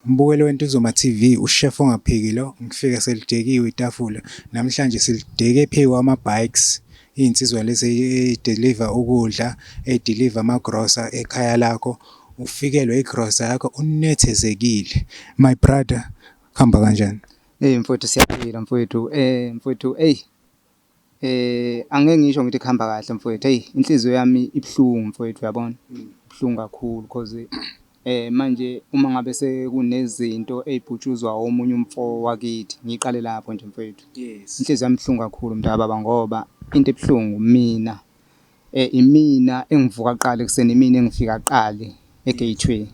Mbukeli weNtuzuma TV, uShef ongaphiki lo, ngifike selidekiwe itafula. Namhlanje silideke phezu kwama-bikes, iy'nsizwa lezi eyi-deliver ukudla, eyi-deliver amagrosa ekhaya lakho. Ufikelwe igrosa yakho unethezekile. My brother, kuhamba kanjani? Eyi mfwethu siyaphila mfwethu, mfwethu eyi. Eh angeke ngisho ngithi kuhamba kahle mfwethu eyi inhliziyo yami ibuhlungu mfwethu uyabona. Ibuhlungu kakhulu cause eh manje uma ngabe sekunezinto ey'putshuzwa omunye umfo wakithi, ngiqale lapho nje mfwethu. Inhliziyo yami ibuhlungu kakhulu mntakababa ngoba into ebuhlungu imina, imina engivuka kuqala ekuseni, imina engifika kuqala e-gate way.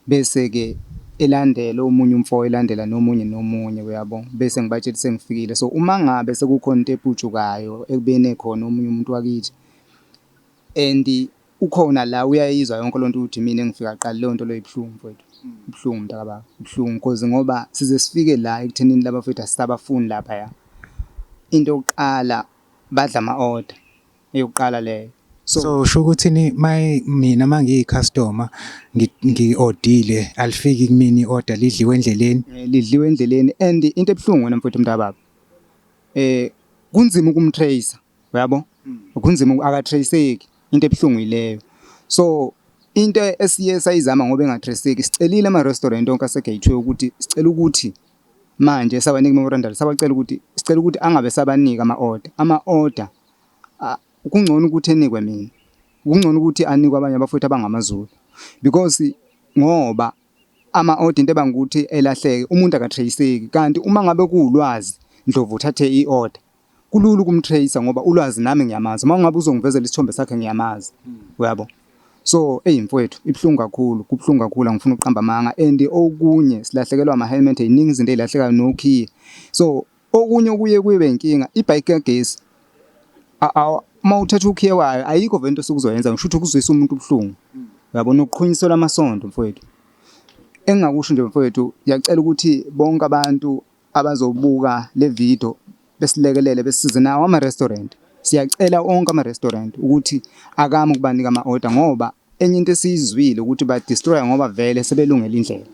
Bese-ke elandela omunye umfo elandela nomunye nomunye uyabo bese ngibatshela ukuthi sengifikile so uma ngabe sekukhona into eputshukayo ekubeni ekhona omunye umuntu wakithi and ukhona la uyayizwa yonke lento ukuthi mina engifika qala leyo nto leyo ibuhlungu mfowethu ibuhlungu mntakababa ibuhlungu cause ngoba size sifike la ekuthenini laba mfowethu asisabafuni lapha ya into yokuqala badla ama-order eyokuqala leyo. So usho ukuthi ni mina mangiyi customer ngi ordile alifiki kumini order lidliwe endleleni eh, lidliwe endleleni and into ebhlungu wena mfowethu mntababa eh kunzima ukumtracer uyabo hmm. kunzima akatraceki into ebhlungu ileyo so into esiye sayizama ngoba engatraceki sicelile ama restaurant onke asegateway ukuthi sicela ukuthi manje sabanika memorandum sabacela ukuthi sicela ukuthi angabe sabanika ama order ama order kungcono ukuthi enikwe mina kungcono ukuthi anikwe abanye abafowethu abangamaZulu because ngoba ama-odd into ebanga ukuthi elahleke umuntu akatreyiseki kanti uma ngabe kuwulwazi ndlovu uthathe i-order kulula ukumtreyisa ngoba ulwazi nami ngiyamazi uma ungabe uzongivezela isithombe sakhe ngiyamazi uyabo so eyi mfowethu ibuhlungu kakhulu kubuhlungu kakhulu angifuni ukuqamba amanga and okunye silahlekelwa ama-helmet yiningi izinto ey'lahlekayo nokhiye so Okunye okuye kube inkinga ibhayiki kagesi uma uthatha ukhiye wayo ayikho vele into osuke uzoyenza ngisho ukuthi ukuzwisa umuntu ubuhlungu yabona ukuqhunyisela amasondo mfowethu engingakusho nje mfowethu ngiyacela ukuthi bonke abantu abazobuka le video besilekelele besize nawo ama-restaurant siyacela onke ama-restaurant ukuthi akame ukubanika ama-order ngoba Enye into esiyizwile ukuthi ba destroyer ngoba vele sebelungela indlela.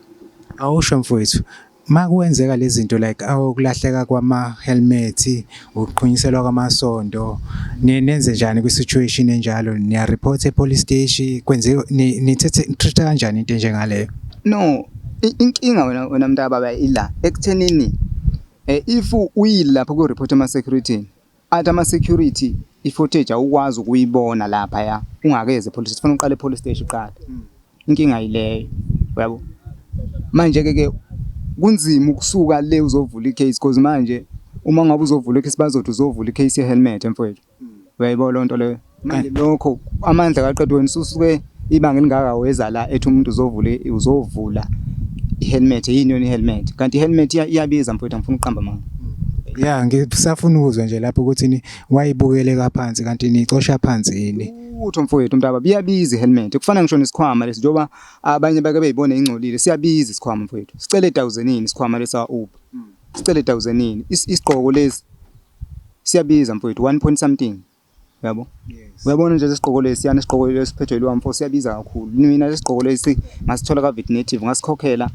Awusho mfowethu makuwenzeka lezinto like awukulahleka kwama helmet ukuqhunyiselwa kwamasondo nenze njani kwi situation enjalo niya report e police station kwenze nithethe treat kanjani into njengaleyo no inkinga wena wena mntaka baba ila ekuthenini eh, if uyilapha ku report ama security Athi ama security i footage awukwazi ukuyibona lapha ya ungakeze police sifuna uqale police station uqala hmm. inkinga ileyo yabo manje ke ke kunzima ukusuka le uzovula icase because manje uma ngabe uzovula icase bazothi uzovula icase ye helmet mfowethu hmm. uyayibo lonto leyo manje lokho amandla kaqedwe wena ususuke ibanga elingaka weza la ethi umuntu uzovula uzovula ihelmet yini yona ihelmet kanti ihelmet iyabiza mfowethu angifuni ukuqamba manga ya ngisafuna ukuzwa nje lapho ukuthi ni wayibukele kaphansi kanti nicosha phansi yini utho mfowethu mntaba biyabiza ihelmet kufana ngisho nesikhwama lesi njoba abanye bake beyibone ingcolile siyabiza isikhwama mfowethu sicele 1000 yini isikhwama lesa uber sicele 1000 yini isigqoko lesi siyabiza mfowethu 1 point something yabo uyabona nje lesigqoko lesi yani isigqoko lesiphethwe yilwa mfo siyabiza kakhulu mina lesigqoko lesi ngasithola ka-vet native ngasikhokhela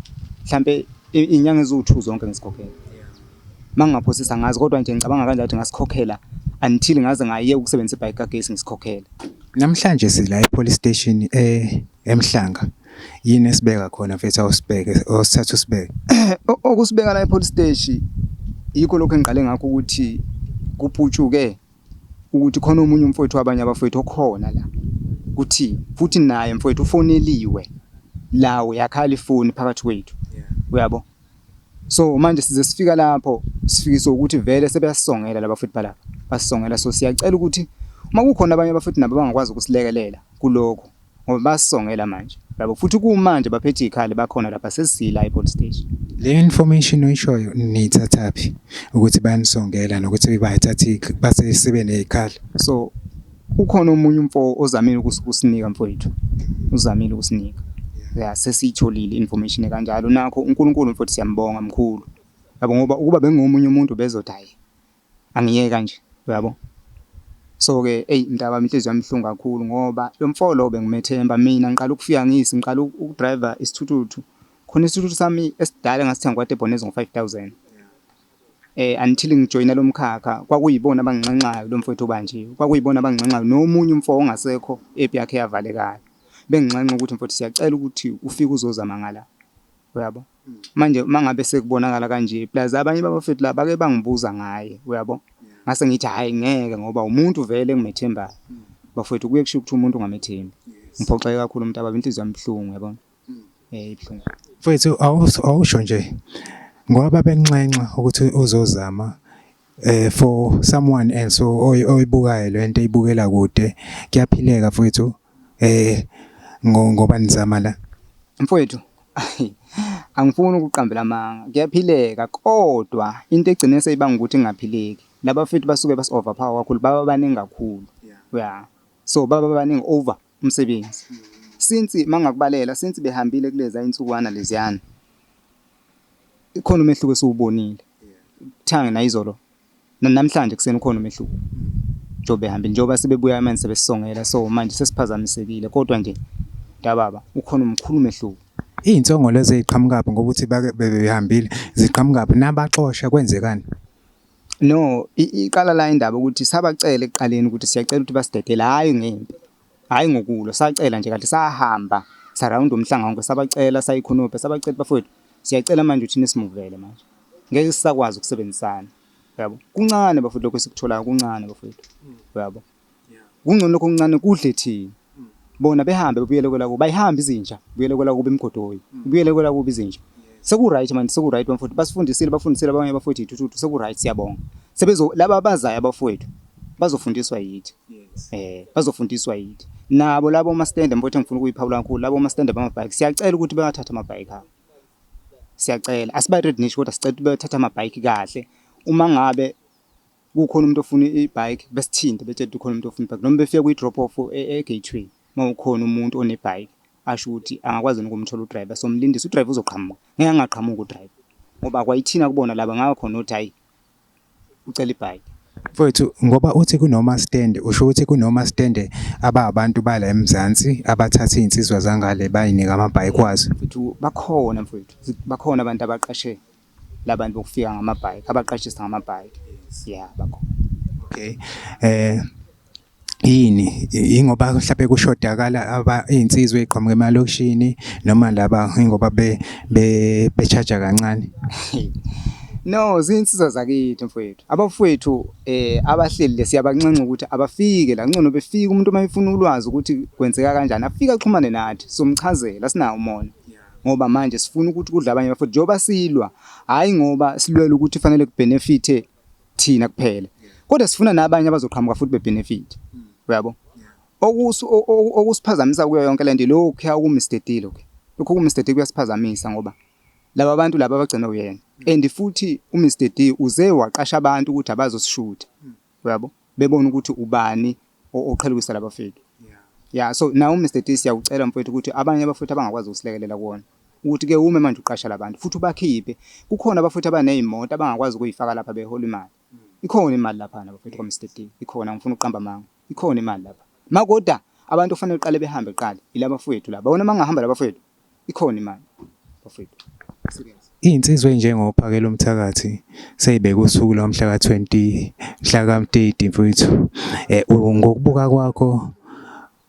mhlampe iy'nyanga eziwu-two zonke ngisikhokhela uma ngingaphosisa ngazi kodwa nje ngicabanga kanje ukuthi ngasikhokhela until ngaze ngaye ukusebenzisa ibhayiki kagesi ngisikhokhela namhlanje sila e-police station e-, emhlanga yini esibeka khona mfethu awusibeke osithatha usibeke okusibeka la e-police station yikho lokho engiqale ngakho ukuthi kuputshuke ukuthi khona omunye umfowethu wabanye abafowethu okhona la kuthi futhi naye mfowethu ufoneliwe la uyakhala ifoni phakathi kwethu uyabo so manje size sifika lapho sifikiswa ukuthi vele sebeyasongela laba futhi balapha basongela so siyacela ukuthi uma kukhona abanye abafowethu nabo bangakwazi ukusilekelela kuloko ngoba basongela manje yabo futhi kumanje baphethe izikhali bakhona lapha sesila ePort Stage le information oyishoyo niyithathaphi ukuthi bayanisongela nokuthi bayithatha basesibe nezikhali so ukhona omunye umfo ozamile ukusinika mfowethu uzamile ukusinika ya sesiyitholile information kanjalo nakho uNkulunkulu mfowethu siyambonga mkhulu yabo ngoba ukuba bengomunye umuntu bezothi hayi Angiyeke kanje uyabo. So ke eyi mntakami inhliziyo yami ibuhlungu kakhulu ngoba lo mfo lo bengumethemba mina ngiqala ukufika ngisi ngiqala ukudrive isithuthuthu khona isithuthuthu sami esidala ngasithenga kwaDebonez ngo-five thousand eh until ngijoyina lo mkhakha kwakuyibona abanginxenxayo lo mfowethu obanjiwe kwakuyibona abanginxenxayo nomunye umfo ongasekho epi yakhe yavalekayo benginxenxa ukuthi mfowethu siyacela ukuthi ufike uzozama ngala uyabo. Manje uma ngabe sekubonakala kanje plus abanye babafethu la bake bangibuza ngaye uyabo ngase ngithi hhayi ngeke ngoba umuntu vele engimethembayo bafowethu kuye kusho ukuthi umuntu ungamethembi ngiphoxeke kakhulu umuntu ababa inhliziyo yami ibuhlungu yabona eh ibuhlungu mfowethu awusho nje ngoba benxenxa ukuthi uzozama eh for someone else oyibukayo lento ibukela kude kuyaphileka mfowethu eh ngoba nizama la mfowethu angifuni ukuqambela amanga kuyaphileka kodwa into egcine seyibanga ukuthi ingaphileki laba futhi basuke basi overpower kakhulu baba baningi kakhulu yeah so baba baningi over umsebenzi since mangakubalela since behambile kuleza insukwana leziyana Ikhona umehluko esiwubonile kuthange nayizolo namhlanje kuseni ukhona umehluko njengoba ehambile njengoba sebebuya amanzi sebesisongela so manje sesiphazamisekile kodwa nje dababa ukhona umkhulu umehluko iy'nsongo lezi ey'qhamukaphi ngoba ukuthi bebehambile ziqhamukaphi nabaxosha kwenzekani no iqala la indaba ukuthi sabacela ekuqaleni ukuthi siyacela ukuthi basidedele hhayi ngempi Hhayi ngokulwa, sacela nje kanti sahamba sarawunda umhlanga wonke sabacela sayikhonopha sabacela ukuthi bafowethu siyacela manje ukuthi nisimuvele manje. Ngeke sisakwazi ukusebenzisana. Uyabo? Kuncane bafowethu lokho esikutholayo kuncane bafowethu. Uyabo? Kungcono lokho okuncane kudle thina. Bona behambe bebuyele kwelakubo. Ayihambi izinja, buyele kwelakubo emgodoyi. Buyele kwelakubo izinja. Seku right man, seku right bafowethu. Basifundisile, bafundisile abanye abafowethu ithuthu. Seku right siyabonga. Sebezo laba abazayo abafowethu bazofundiswa yithi. Yes. Eh, bazofundiswa yithi. Nabo labo ama stand mfowethu engifuna ukuyiphawula kakhulu, labo ama stand bama bike. Siyacela ukuthi bayathatha ama bike abo. Siyacela. Asiba red niche kodwa sicela ukuthi bayathatha ama bike kahle. Uma ngabe kukhona umuntu ofuna i-bike besithinte betshela ukuthi ukhona umuntu ofuna i-bike noma befike kwi-drop off e-gateway uma ukhona umuntu onebhayiki asho ukuthi angakwazi yini ukumthola udriver somlindisa udriver uzoqhamuka ngeke angaqhamuka udriver ngoba kwayithina kubona laba ngaka khona uthi hayi ucela ibhayike Mfowethu ngoba uthi kunoma stand usho ukuthi kunoma stand ababantu bala eMzansi abathatha izinsizwa zangale bayinika amabhayike wazo. Mfowethu bakhona mfowethu bakhona abantu abaqashe labantu bokufika ngamabhayike abaqashisa ngamabhayike. Yeah bakhona. Okay. Eh yini ingoba mhlawumbe kushodakala iy'nsizwa ey'qhamuka emalokishini noma laba ingoba be-charge-a kancane No, zinsizwa zakithi mfowethu. Abafowethu eh abahleli le siyabanxenxa ukuthi abafike la ngcono befike umuntu uma efuna ulwazi ukuthi kwenzeka kanjani afike axhumane nathi somchazela sinawo umona. Ngoba manje sifuna ukuthi kudla abanye bafowethu njengoba silwa hhayi ngoba silwela ukuthi fanele kubenefithe thina kuphela kodwa sifuna nabanye abazoqhamuka futhi bebenefit uyabo okusiphazamisa kuyo yonke lento lokho kuya ku Mr D lokho lokho ku Mr D kuyasiphazamisa ngoba laba bantu laba abagcina uyena and futhi u Mr D uze waqasha abantu ukuthi abazosishutha uyabo bebona ukuthi ubani oqhelukisa labafeki ya so nawe uMr T siyawucela mfowethu ukuthi abanye abafowethu abangakwazi ukusilekelela kuwona ukuthi ke ume manje uqasha labantu futhi ubakhiphe kukhona abafowethu abanezimoto abangakwazi ukuyifaka lapha behola imali ikhona imali lapha nabafowethu kwaMr T ikhona ngifuna ukuqamba amanga ikhona imali lapha makoda abantu kufanele uqale behambe qala ilabafowethu laba bona mangahamba labafowethu ikhona imali bafethu serious Insizwa enjengo Phakela umthakathi seyibeka usuku lomhla ka 20 mhla ka 30 mfowethu eh ngokubuka kwakho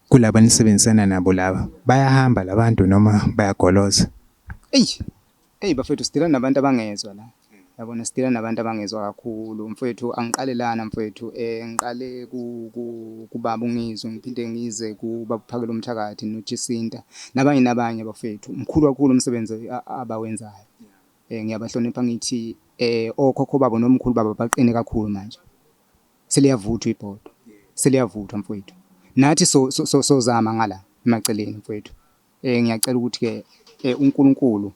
kulaba nisebenzisana nabo laba bayahamba labantu noma bayagoloza eyi Eyi bafethu sidila nabantu abangezwa la. Yabona sidila nabantu abangezwa kakhulu. Mfwethu angiqale lana mfwethu eh ngiqale ku, ku, kubaba ungizwe ngiphinde ngize kubaba uphakela umthakathi nojisinta nabanye nabanye bafethu. Mkhulu kakhulu umsebenzi a- abawenzayo. Eh ngiyabahlonipha ngithi eh okhokho babo nomkhulu babo baqine kakhulu manje. Seliyavuthwa ibhodo. Seliyavuthwa mfwethu. Nathi so, so, so, sozama ngala emaceleni mfwethu. Ngiyacela ukuthi-ke uNkulunkulu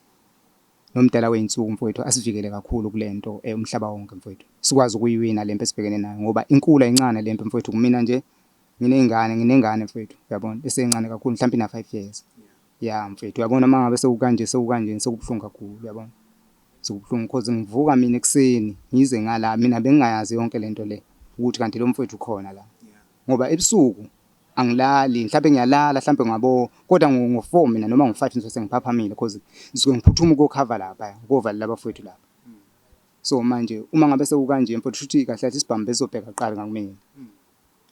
nomdala wey'nsuku mfowethu asivikele kakhulu kule nto umhlaba wonke mfowethu. Sikwazi ukuyiwina le mpi esibhekene nayo ngoba inkulu ayincane le mpi mfowethu. Kumina nje nginey'ngane, nginengane mfowethu uyabona esencane kakhulu mhlampe ina-five years. Ya mfwethu uyabona uma ngabe sewukanje sewukanjena sekubuhlungu kakhulu uyabona. Sekubuhlungu cause ngivuka mina ekuseni ngize ngala mina bengingayazi yonke le nto le ukuthi kanti lo mfwethu ukhona la ngoba ebusuku. Angilali, mhlampe ngiyalala hlampe ngabo kodwa ngo four mina noma ngo five ngisuke sengiphaphamile cause ngisuke ngiphuthuma ukuyokhava laphaya, ukuyovalela abafowethu lapha. So manje uma ngabe sekukanje mfwethu shuthi kahle kahle isibhamu besizobheka kuqala ngakumina,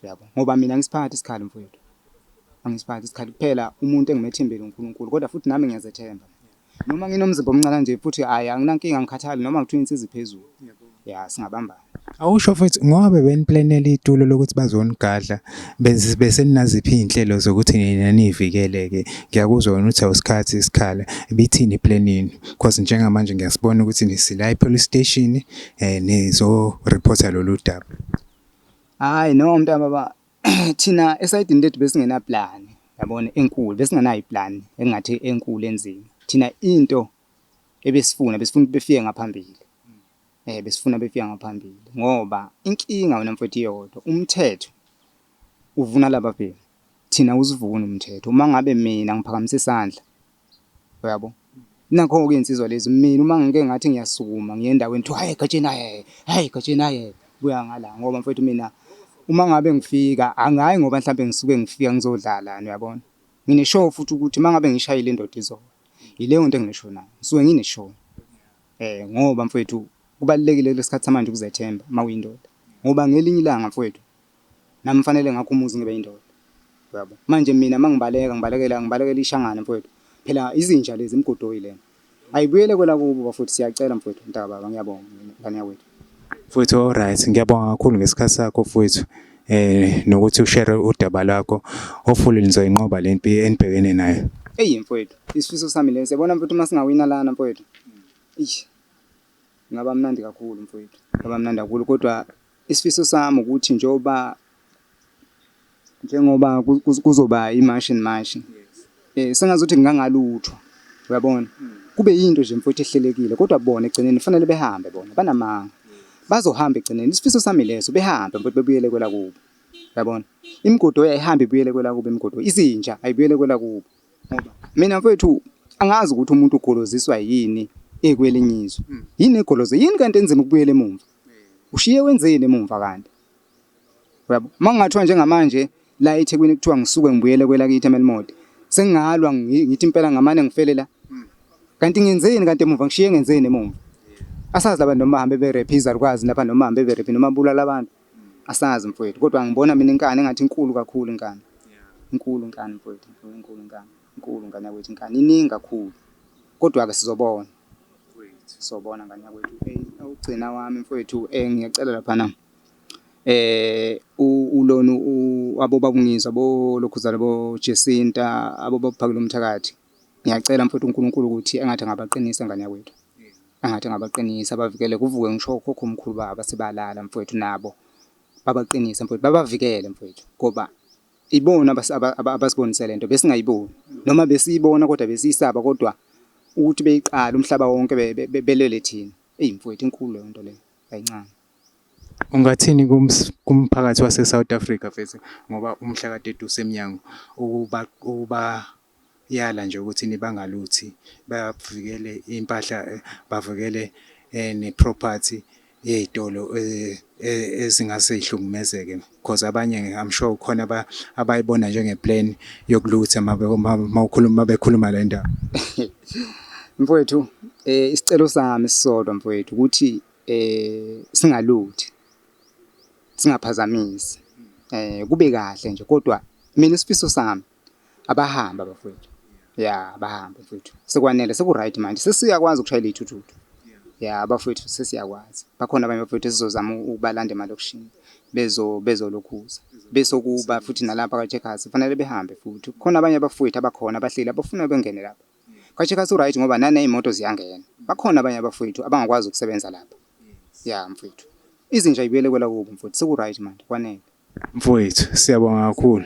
yabo. Ngoba mina angisiphathi isikhali mfwethu, angisiphathi isikhali, kuphela umuntu engimethembele uNkulunkulu kodwa futhi nami ngiyazethemba. Noma nginomzimba omncane kanje futhi hhayi anginankinga angikhathali noma ngithiwa insizi phezulu. Ya singabambana. Awusho mfethu ngoba bebeniplanela itulo lokuthi bazonigadla beseninaziphi iy'nhlelo zokuthi nina niy'vikele-ke ngiyakuzwa wena uthi awusikhathi isikhala ibithini iplan yenu cause njengamanje ngiyasibona ukuthi nisila e-police station um eh, nizorephotha lolu daba hhayi no mntana baba thina esayidini lethu besingenaplani yabona enkulu besingenayo iplan engathi enkulu enzima thina into ebesifuna besifuna ukuthi befike ngaphambili eh besifuna befika ngaphambili ngoba inkinga wena mfowethu iyodwa umthetho uvuna laba bhemu thina usivuna umthetho uma ngabe mina ngiphakamise isandla uyabo nakho-ke iy'nsizwa lezi mina uma ngike ngathi ngiyasukuma ngiye endaweni kuthiwa hhayi egatsheni hhayi hhayi egatsheni hhayi kuya ngala ngoba mfowethu mina uma ngabe ngifika angayi ngoba mhlawumbe ngisuke ngifika ngizodlalani uyabona ngine-show futhi ukuthi uma ngabe ngishayile indoda izona yileyo nto enginesho nayo ngisuke ngine-show um ngoba mfowethu kubalulekile kulesi khathi samanje ukuzethemba uma uyindoda ngoba ngelinye ilanga mfowethu. Nami kufanele ngakhe umuzi ngibe indoda uyabo manje mina mangibaleka ngibalekela ngibalekela ishangane mfwethu phela izinja lezi imgudoyi lena ayibuyele kwelakubo bafwethu siyacela mfwethu mntakababa ngiyabonga ngane yakwethu. Mfwethu alright ngiyabonga kakhulu ngesikhathi sakho mfwethu eh nokuthi ushare udaba lakho hopefully nizoyinqoba le mpi enibhekene nayo. Eyi mfwethu isifiso sami lesi yabona mfwethu uma singawina lana mfwethu ish ngaba mnandi kakhulu mfwethu ngaba mnandi kakhulu kodwa Isifiso sami ukuthi njengoba njengoba kuzoba imashi nemashi eh sengazuthi ngingangalutho uyabona hmm. kube yinto nje mfowethu ehlelekile kodwa bona egcineni kufanele behambe bona banamanga bazohamba egcineni isifiso sami leso behambe mfowethu bebuyele kwela kubo uyabona imigodo yayihamba ibuyele kwela kubo imigodo izinja ayibuyele kwela kubo ngoba mina mfowethu angazi ukuthi umuntu ugoloziswa yini ekwelinye izwe hmm. yini egoloze yini kanti enzima ukubuyela emumva Ushiye wenzeni emumva kanti? Uyabo? Uma kungathiwa njengamanje la eThekwini kuthiwa ngisuke ngibuyele kwelakithi eMelmodi, sengingalwa ngi- ngithi impela ngamane ngifele la. Kanti ngenzeni kanti emuva ngishiye ngenzeni emuva? Asazi laba noma bahambe berephe izalukazi lapha noma bahambe berephe noma bulala abantu. Asazi mfowethu kodwa ngibona mina inkani engathi inkulu kakhulu inkani. Inkulu inkani mfowethu, inkulu inkulu inkani. Inkulu ngane yakwethu inkani iningi kakhulu. Kodwa-ke sizobona. sobona ngane yakwethu ukugcina wami mfowethu um ngiyacela laphana eh ulona abobabungizwa bolokhuzana bojesinta abobaphakela umthakathi ngiyacela mfowethu uNkulunkulu ukuthi engathi angabaqinisa ngane yakwethu angathi angabaqinisa bavikele kuvuke ngisho khokho omkhulu baba sebalala mfowethu nabo babaqinise mfowethu babavikele mfowethu ngoba Ibona abasibonisele nto besingayiboni noma besiyibona kodwa besiyisaba kodwa ukuthi beyiqala umhlaba wonke belele thina. Eyi mfowethu inkulu leyo nto leyo ayincane. Ungathini kumphakathi waseSouth Africa mfethu ngoba umhla ka-30 usemnyango ukuba ukuba yala nje ukuthi nibangaluthi bavikele impahla bavikele eh, ne property yey'tolo eh, eh, ezingase ihlukumezeke because abanye I'm sure khona abayibona njengeplan yokulutha mawukhuluma bekhuluma le ndaba mfowethu eh isicelo sami sisodwa mfowethu ukuthi eh singaluthi singaphazamisi eh kube kahle nje kodwa mina isifiso sami Abahambe abafowethu. Ya, abahambe mfowethu. Sekwanele seku-right manje. Sesiyakwazi ukushayela iy'thuthutu. Ya, abafowethu sesiyakwazi. Bakhona abanye abafowethu esizozama u- ukubalanda emalokishini bezo bezolokhuza. Besokuba futhi nalapha kwaCheckers kufanele behambe futhi. Kukhona abanye abafowethu abakhona abahleli abafuna bengene lapha. KwaCheckers u-right ngoba naney'moto ziyangena. Bakhona abanye abafowethu abangakwazi ukusebenza lapha. Ya mfowethu. Izinja y'buyele kwelakubo mfowethu seku-right manje kwanele. Mfowethu, siyabonga kakhulu.